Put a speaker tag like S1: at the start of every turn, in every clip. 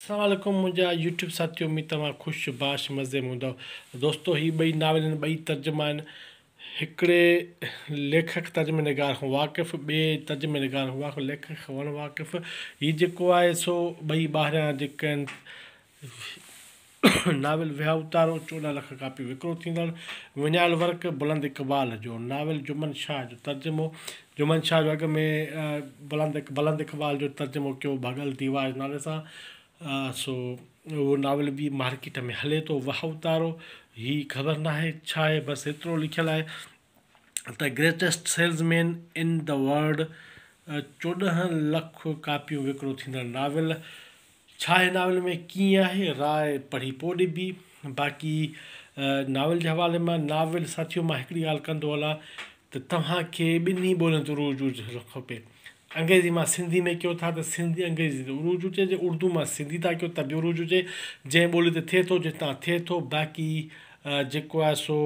S1: السلام عليڪم منهنجا يوٽيوب ساٿيو اميد توهان خوش باش مزي ۾ هوندؤ دوستو هي ٻئي ناول هن ٻئي ترجما آهن هڪڙي ليکڪ ترجمه نگار کان واقف ٻئي ترجمه نگار کان واقف ليکڪ کان وڻ واقف هي جيڪو آهي سو ٻئي ٻاهريان جيڪا آهن ناول ويا اتارو چوڏهن لک ڪاپيون وڪرو ٿيندڙ وڃايل ورق بلند اقبال جو ناول جمن شاهه جو ترجمو جمن شاهه جو اڳ ۾ بلند بلند اقبال جو ترجمو ڪيو ڀڳل ديوار جي نالي سان سو اهو ناول به مارڪيٽ ۾ هلي ٿو واهه اوتارو هي خبر ناهي ڇا آهي بس ايترو لکيل آهي ته greatest salesman in the world چوڏهن لک ڪاپيون وڪرو ٿيندڙ ناول ڇا هن ناول ۾ ڪيئن آهي راء پڙهي پوء ڏبي. باقي ناول جي حوالي مان ناول ساٿيو مان هڪڙي ڳالهه ڪندو هلان ته توهان کي ٻنهي ٻولين تي عروج هجڻ کپي. انگريزي مان سنڌي ۾ ڪيو ٿا ته سنڌي انگريزي تي عروج هجي جي اردو مان سنڌي ٿا ڪيو ته به عروج هجي جنهن ٻولي تي ٿئي ٿو جتان ٿئي ٿو باقي جيڪو آهي سو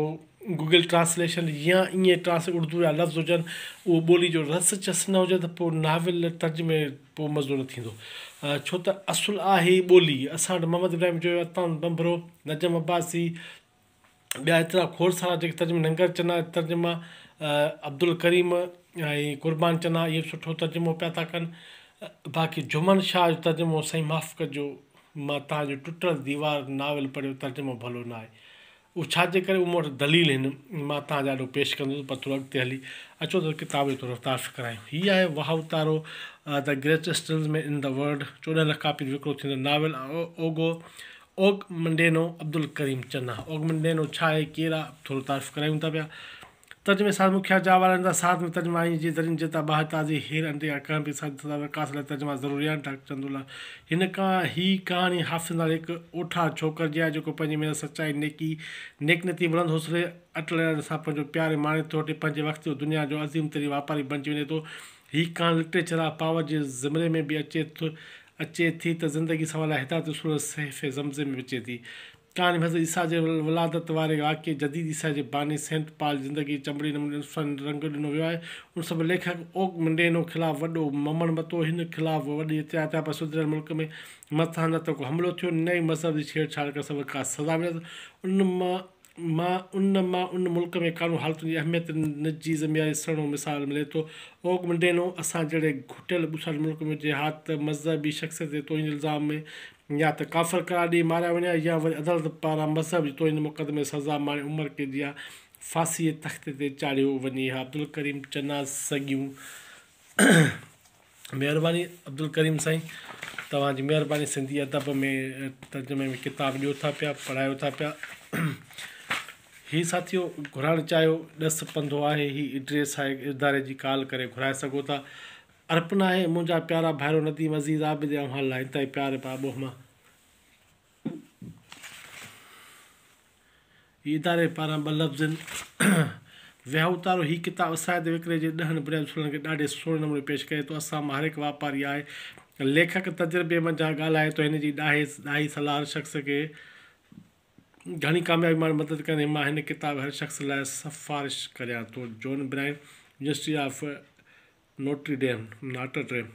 S1: گوگل ٽرانسليشن يا ائين ٽرانسليٽ اردو جا لفظ هجن اهو ٻولي جو رس چس نه هجي ته پوء ناول ترجمي پوء مزو نه ٿيندو ڇو ته اصل آهي ئي ٻولي اسان وٽ محمد ابراهيم جويو، عطاء بنبرو، نجم عباسي ٻيا ايترا کوڙ سارا جيڪي ترجما ننگر چنا جا ترجما عبدالڪريم ۽ قربان چنا اهي به سٺو ترجمو پيا ٿا ڪن باقي جهومن شاهه جو ترجمو سائين معاف ڪجو مان تهانجو ٽٽل ديوار ناول پڙهيو ترجمو ڀلو نه آهي اهو ڇا جي ڪري اهو مون وٽ دليل هن مان توهان جي آڏو پيش ڪندس پر ٿورو اڳتي هلي اچو ته ڪتاب جو ٿورو تعارف ڪرايون هي آهي واهو تارو The Greatest Salesman in the World چوڏهن لک ڪاپين وڪرو ٿيندڙ novel Og Og Mandino Abdulkarim Chana Og Mandino ڇا آهي ڪير آهي ٿورو تعارف ڪرايون ٿا پيا ترجمي ساز مکيا جا وارن دا ساز ۾ ترجمه آئين جي درين جتا باهه تازي هير انڊي يا ڪنهن به ساز سدا وڪاس لاء ترجما ضروري آهن ڊاڪٽر چندو الله هن ڪا هي ڪهاڻي حافظ نالي هڪ اوٺار ڇوڪر جي آهي جيڪو پنهنجي محنت سچائي نيڪي نيڪ نيتي بلند حوصلي اٽل ارادي سان پنهنجو پيار ۽ ماڻي ٿوٽي پنهنجي وقت جو دنيا جو عظيم ترين واپاري بنجي وڃي ٿو هي ڪهاڻي لٽريچر آف پاور جي زمري ۾ به اچي اچي ٿي ته زندگي سنوار لاء هدايت اصول صحيفي زمزي ۾ به اچي ٿي ڪهاڻي حضرت عيسيٰ جي ولادت واري واقعي جديد عيسائيء جي باني سينٽ پال جي زندگيء چنبڙي نموني انساني رنگ ڏنو ويو آهي. ان سبب ليکڪ اوڪ منڊينو خلاف وڏو ممڻ متو، هن خلاف وڏي احتجاج ٿيا پر سڌريل ملڪ ۾ مذهب سان نه ته ڪو حملو ٿيو نه ئي مذهب جي ڇيڙ ڇاڙ ڪرڻ سبب ڪا سزا مليس. ان مان ان مان ان ملڪ ۾ قانون حالتن جي اهميت جي ذميواري سهڻو مثال ملي ٿو. اوڪ منڊينو اسان جهڙي گهٽيل ٻوساٽ ملڪ ۾ جهاد ته مذهبي شخصيت جي توهين جي الزام ۾ يا ته ڪافر قرار ڏيئي ماريا وڃان يا وري عدالت پاران مذهب جي توهين مقدمي سزا ماڻي عمر قيد يا ڦاسيء جي تختي تي چاڙهيو وڃي ها عبدالڪريم چناز سگيون مهرباني عبدالڪريم سائين توهان جي مهرباني سنڌي ادب ۾ ترجمي ۾ ڪتاب ڏيو ٿا پيا پڙهايو ٿا پيا هي ساٿيو گهرائڻ چاهيو ڏس پنڌو آهي هي ايڊريس آهي اداري جي ڪال ڪري گهرائي سگهو ٿا ارپ ناهي منهنجا پيارا ڀائرو نديم عزيز عابد يا اوهان لاء انتهائي پيار ۽ پاٻوهه مان هي اداري پاران ٻه لفظن ويهه اتارو هي ڪتاب اسان هتي وڪري جي ڏهن بنيادي اصولن کي ڏاڍي سهڻي نموني پيش ڪري ٿو اسان مان هر هڪ واپاري آهي ليکڪ تجربي منجهان ڳالهائي ٿو هن جي ڏاهي ڏاهي صلاح هر شخص کي گهڻي ڪاميابي ماڻڻ ۾ مدد ڪندي مان هن ڪتاب هر شخص لاء سفارش ڪريان ٿو John Brian university of Notre Dame, Notre Dame،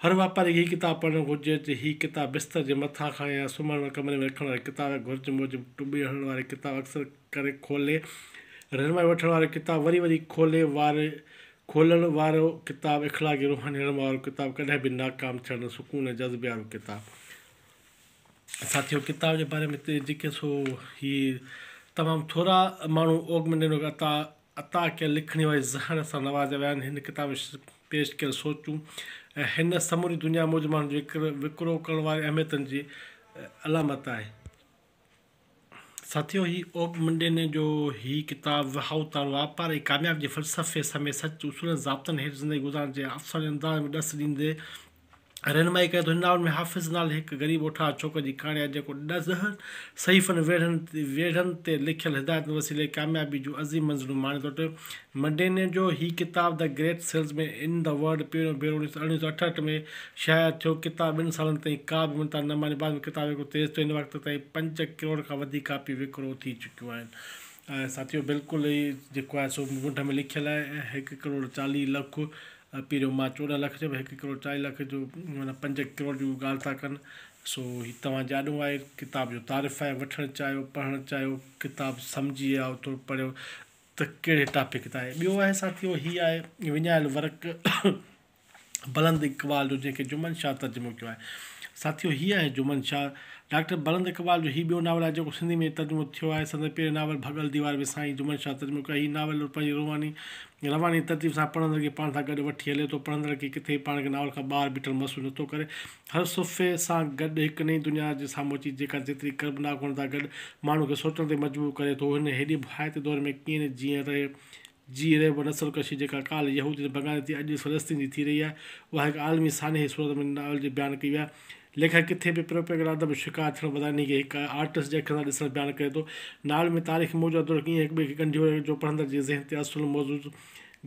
S1: هر واپاري کي هي ڪتاب پڙهڻ گهرجي ته هي ڪتاب بستر جي مٿان کان يا سمهڻ واري ڪمري ۾ رکڻ واري ڪتاب يا گهرج موجب ٽٻي هڻڻ واري ڪتاب اڪثر ڪري کولي رهنمائي وٺڻ وارو ڪتاب وري وري کولي واري کولڻ وارو ڪتاب اخلاقي روحاني رهنمائي وارو ڪتاب ڪڏهن به ناڪام ٿيڻ سڪون ۽ جذبي وارو ڪتاب. ساٿيو ڪتاب جي باري ۾ جيڪي سو هي تمام ٿورا ماڻهو اوڳ ۾ نينو عطا عطا ڪيل لکڻي واري زهر سان نوازيا ويا آهن. هن ڪتاب ۾ پيش ڪيل سوچون ۽ هن سموري دنيا موجب ماڻهن جي وڪرو ڪرڻ وارين اهميتن جي علامت آهي. ساٿيو! هي اوپ منڊيني جو هي ڪتاب وهائو تان واپار ۽ ڪاميابي جي فلسفي سميت سچ، اصولن، ضابطن هيٺ زندگي گذارڻ جي افسانوي انداز ۾ ڏس ڏيندي رهنمائي ڪري ٿو. هن ناول ۾ حافظ نالي هڪ غريب اوٺار ڇوڪر جي ڪهاڻي آهي، جيڪو ڏهن صحيفن ويڙهن تي لکيل هدايتن وسيلي ڪاميابي جون عظيم منزلون ماڻي ٿو اچي. مڊيني جو هي ڪتاب The Great Salesman in the World پهريون ڀيرو اڻويهه سؤ اٺهٺ ۾ شايع ٿيو. ڪتاب ٻن سالن تائين ڪا به مڃتا نه ماني. بعد ۾ ڪتاب ايترو تيز ٿيو هن وقت تائين پنج ڪروڙ کان وڌيڪ ڪاپيون وڪرو ٿي چڪيون آهن. ساٿيو بلڪل هي جيڪو آهي سو منڍ ۾ لکيل آهي ۽ هڪ ڪروڙ چاليهه لک پهريون مان چوڏهن لک چيم هڪ ڪروڙ چاليهه لک جو معنيٰ پنج ڪروڙ جون ڳالهه ٿا ڪن سو هي توهان جي آڏو آهي ڪتاب جو تعارف آهي وٺڻ چاهيو پڙهڻ چاهيو ڪتاب سمجهي يا اوٿو پڙهيو ته ڪهڙي ٽاپڪ تان آهي ٻيو آهي ساٿيو هي آهي وڃايل ورق بلند اقبال جو جنهن کي جمن شاهه ترجمو ڪيو آهي ساٿيو هي آهي جمن شاهه ڊاڪٽر بلند اقبال جو هي ٻيو ناول آهي جيڪو سنڌي ۾ ترجمو ٿيو آهي سندن پهرين ناول ڀڳل ديوار وسائين جمن شاهه ترجمو ڪيو آهي هي ناول پنهنجي روحاني رواني ترتيب سان پڙهندڙ کي پاڻ سان گڏ وٺي هلي ٿو. پڙهندڙ کي ڪٿي به پاڻ کي ناول کان ٻاهر بيٺل محسوس نٿو ڪري. هر صفحي سان گڏ هڪ نئين دنيا جي سامهون اچي جيڪا جيتري ڪربناڪ هئڻ سان گڏ ماڻهو کي سوچڻ تي مجبور ڪري ٿو. هن هيڏي ڀائتي دور ۾ ڪيئن نه جيئن رهي جي رهيو نسل ڪشي جيڪا ڪالهه يهودين ۽ بگاني ٿي اڄ فلسطين جي ٿي رهي آهي اها هڪ عالمي سانحي جي صورت ۾ ناول جي بيان ڪئي وئي آهي. ليکڪ ڪٿي به پروپيگنڊا ادب جو شڪار ٿيڻ بدران انهي کي هڪ آرٽسٽ جي اکين سان ڏسڻ بيان ڪري ٿو. ناول ۾ تاريخي موضوعات توڙي ائين هڪٻئي کي ڳنڍيو ويو آهي جو پڙهندڙ جي ذهن تي اصل موضوع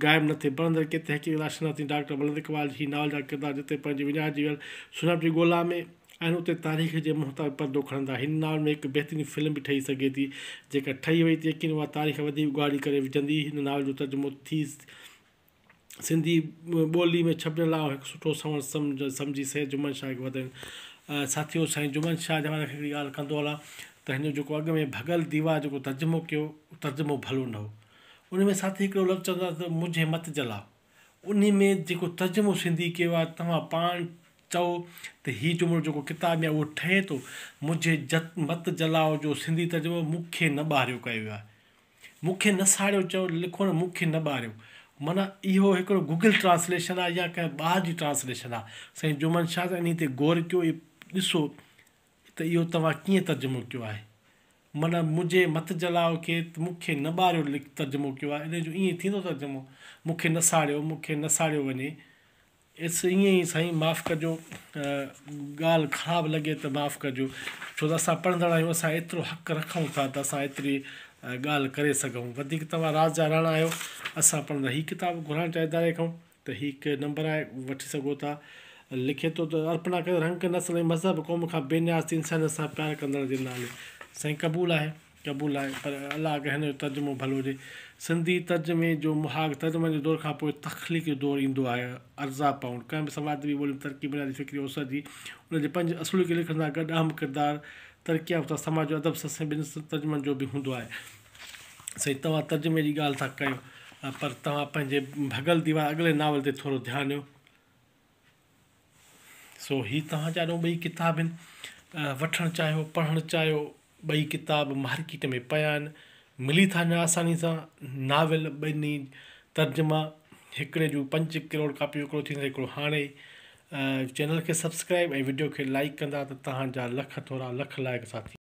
S1: غائب نه ٿئي. پڙهندڙ کي تحقيق راشناسين ڊاڪٽر بلند اقبال جي هي ناول جا ڪردار جتي پنهنجي وڃائجي ويل سڃاڻپ جي ڳولا ۾ آهن اتي تاريخ جي منهن تان به پردو کڻندا. هن ناول ۾ هڪ بهترين فلم به ٺهي سگهي ٿي. جيڪر ٺهي وئي ته يقينن اها تاريخ وڌيڪ اگهاڙي ڪري وجهندي. هن ناول جو ترجمو ٿي. سنڌي ٻولي ۾ ڇپجڻ لاء هڪ سٺو سنئون سمجهه سمجهي سيد جمن شاهه کي وڌائيون. ساٿيو سائين جمن شاهه جي حوالي کان هڪڙي ڳالهه ڪندو هلان ته هن جو جيڪو اڳ ۾ ڀڳل ديوان جيڪو ترجمو ڪيو اهو ترجمو ڀلو نه هو. ان ۾ ساٿي هڪڙو لفظ چوندو آهي ته مجهه مت جلاء ان ۾ جيڪو ترجمو سنڌي ڪيو آهي توهان پاڻ چئو ته هي جملو جيڪو ڪتاب ۾ اهو ٺهي ٿو مجهه مت جلاء جو سنڌي ترجمو مون کي نه ٻاهريو ڪيو ويو آهي. مون کي نه ساڙيو چئو لکو نه مون کي نه ٻاريو معنيٰ اهو هڪڙو گوگل ٽرانسليشن آهي يا ڪنهن ٻار جي ٽرانسليشن آهي سائين جومن شاهه ته انهي تي غور ڪيو ۽ ڏسو ته اهو توهان ڪيئن ترجمو ڪيو آهي معنيٰ منهنجي مت جلاء کي ته مون کي نه ٻاريو ترجمو ڪيو آهي انهي جو ائين ٿيندو ترجمو مون کي نه ساڙيو مون کي نه ساڙيو وڃي اس ائين ئي سائين معاف ڪجو ڳالهه خراب لڳي ته معاف ڪجو ڇو ته اسان پڙهندڙ آهيون اسان ايترو حق رکون ٿا ته اسان ايتري ڳالهه ڪري سگهون وڌيڪ توهان راز جا راڻا آهيو اسان پڙهندڙ هي ڪتاب گهرائڻ چاهي اداري کان ته هي هڪ نمبر آهي وٺي سگهو ٿا لکي ٿو ته ارپنا ڪري رنگ نسل ۽ مذهب قوم کان بي نياز ٿي انسانيت سان پيار ڪندڙ جي نالي سائين قبول آهي قبول آهي پر الله ڪري هن جو ترجمو ڀلو هجي. سنڌي ترجمي جو مهاڳ ترجمن جي دور کان پوء تخليق جو دور ايندو آهي. ارزا پائونڊ، ڪنهن به سماج ادبي ٻولي ۾ ترقي بنيادي فڪري اوسر جي ان جي پنج اصولن کي لکڻ سان گڏ اهم ڪردار ترقي يافته سماج جو ادب سسئين ٻن ترجمن جو به هوندو آهي. سائين توهان ترجمي جي ڳالهه ٿا ڪيو پر توهان پنهنجي ڀڳل ديوان اڳلي ناول تي ٿورو ڌيان ڏيو. سو هي توهان جا ڏون ٻئي ڪتاب هن وٺڻ چاهيو پڙهڻ چاهيو ٻئي ڪتاب مارڪيٽ ۾ پيا آهن ملي ٿا وڃن آساني سان ناول ٻنهي ترجما هڪڙي جون پنج ڪروڙ ڪاپيون هڪڙو ٿيندو هڪڙو هاڻي چينل کي سبسڪرائب ۽ وڊيو کي لائڪ ڪندا ته توهان جا لک ٿورا لک لائق ساٿي